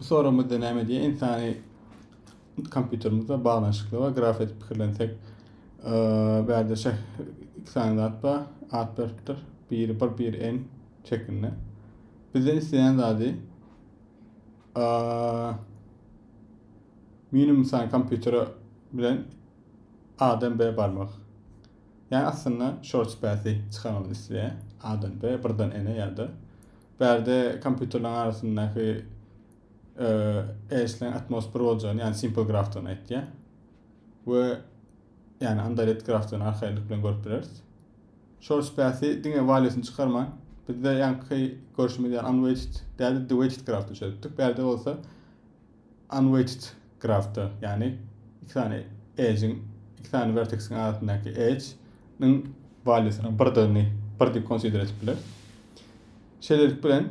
Bu soragymyzda näme diýýär? Ynsany kompýuterimizde baglanyşykly we graf edip pikirlensek, bärde şe iki sany zat bar, at beripdir. Biri bir, biri en şeklinde. Bizden islenen zady minimum sany kompýutere bilen A-dan B barmak. Yani aslında short space çıkarmamızı isteýär. A-dan B, birden N-e ya da Bärde kompýuterleriň arasyndaky eýesleň Atmos bir boljagyny, ýagny Simple grafdan aýtýar. We ýagny Andalet grafdan arkaýynlyk bilen görüp bileris. Short space diňe valýusyny çykarman, bizde ýaňky görşümiz ýaly unweighted, bärde de weighted grafda çözüpdik. Bärde bolsa Unweighted grafda, ýagny iki sany edge-iň, iki sany werteksiň arasyndaky edge-niň walýusynyň birdigini bir diýip konsider edip bileris. Şeýlelik bilen,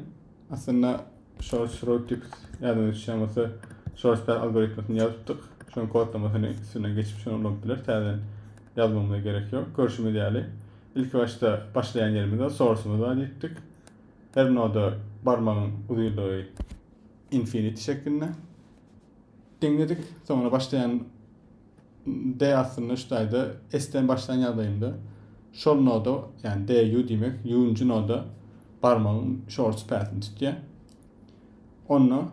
aslynda short-shroud diýip ýadyňyza düşýän bolsa, short-path algoritmasini ýazypdyk. Şonuň kodlamasyny üstünden geçip şony ulanyp bileris, täzeden ýazmamyza gerek ýok. Görşümiz ýaly, ilkibaşda başlaýan ýerimiz bar, source-ymyz bar diýipdik. Her noda barmagyň uzynlygy Infinity şeklinde. Deňledik. Soňra başlaýan D aslynda şu taýda S-den başlan ýagdaýynda şol noda, ýagny D U diýmek, U-njy noda barmagyň şor süpäsini tutýar. Onda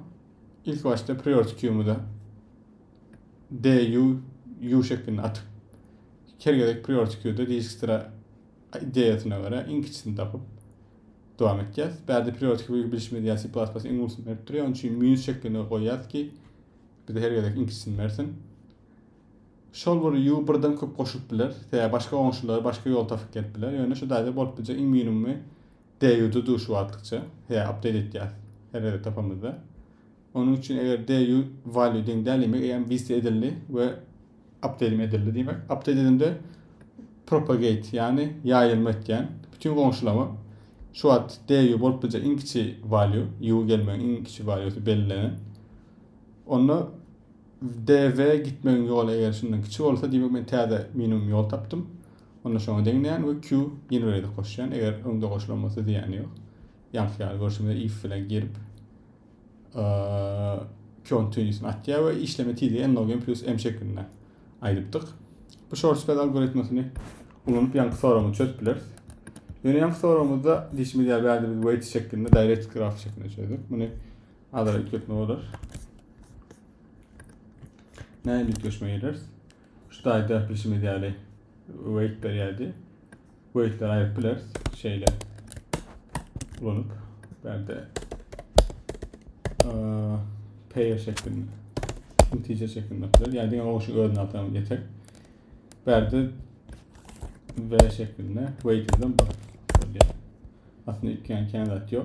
ilki başda priority queue-myza D U U şeklinde atyp, her gezek priority queue-da disk sıra ideýasyna görä iň kiçisini tapyp, dowam etýäs. Bärde periodiki bölegi bilşimiz ýaly C++-yň iň ulusy berip durýar. Onuň üçin minus şeklinde goýýas ki, bize her gezek inçisini bersin. Şol bir u birden köp goşulyp biler. Sebäbi başga goňşular başga ýol tapyp gelip biler. Ýöne şu taýda bolup biljek iň minimumy DU-da dur şu wagtlykça. Sebäbi update etýäs her gezek tapamyzda. Onuň üçin eger DU value deň däl demek eýýäm vise edildi we update edildi diýmek. Update edende propagate ýagny ýaýylma etýän bütün goňşulama şu wagt DU bolup biljek iň kiçi value U gelmegiň iň kiçi valuesy bellenen. Onda DV gitmegiň ýoly eger şundan kiçi bolsa diýmek men täze minimum ýol tapdym. Onda şoňa deňleýän we Q generator goşýan eger öňde goşulan bolsa diýýäni ýok. Ýaňky ýaly görşümize if bilen girip Kyon Tünisini atýar we işleme tizligi n log n plus m şeklinde aýdypdyk. Bu shortcut algoritmasini ulanyp ýaňky soragyny çözüp bileris. Ýöne ýaňky soragymyzda diýişimiz ýaly bärde biz weight şeklinde direct graf şeklinde çözdük. Muny azara üýtgetme bolar. Näme üýtgeşme gireris? Şu taýda bilşimiz ýaly weight berýärdi. Weightleri aýryp bileris. Şeýle ulanyp bärde pair şeklinde integer şeklinde bilir. Yani diňe o şu özüne atalım yeter. Berdi V şeklinde weight'den bir. Aslında iki yani kendi atıyor.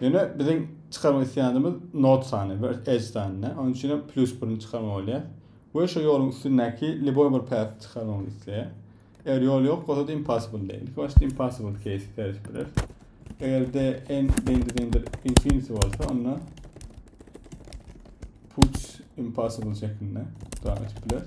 Ýöne biziň çykarmak isleýänimiz Note sany we Edge sanyny. Onuň üçin hem plus birini çykarmaly bolýar. We şu ýoluň üstündäki liboý bir päti çykarmagyny isleýär. Eger ýol ýok bolsa-da impossible diýer. Ilki başda impossible case serişip bileris. Eger de n deňdir deňdir infinity bolsa onda puts impossible şeklinde dowam etip bileris.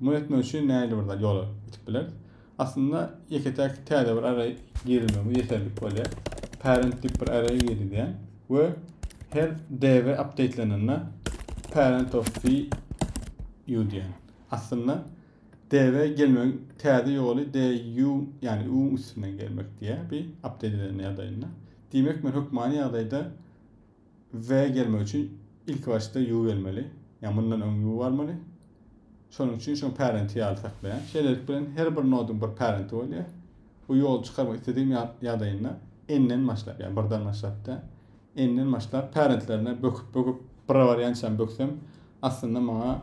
Muny etmek üçin nähili bir ýola gidip bileris? Aslynda ýeke-täk täze bir array girizmegimiz ýeterlik bolýar. Parent diýip bir array girizýän we her db updatelenende parent of v u diýen. Aslynda db gelmegiň täze ýoly du ýagny u üstünden gelmek diýýär bir update edilende ýagdaýynda. Diýmek men hökmany ýagdaýda W gelmek üçin ilki başda ýu gelmeli. Ýa mundan öň ýu barmaly. Şonuň üçin şoň parenti ýaly saklaýan. Şeýlelik bilen her bir nodyň bir parenti bolýar. Bu ýoly çykarmak istedigiň ýadaýynda n-den başlap, ýa birden başlapda, n-den başlap parentlerine böküp böküp bira barýançam böksem aslynda maňa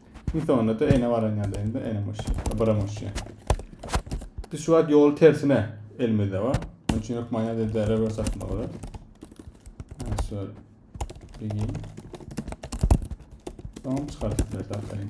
Şimdi sonunda da ene baran ýadayny da enem uçya. Bıram uçya. Biz şu wagt ýol tersine elimizde var. Onun için hökman ýada da revers atma bolar. Şöyle. Bilgin. Tamam çıkardık biraz atlayın.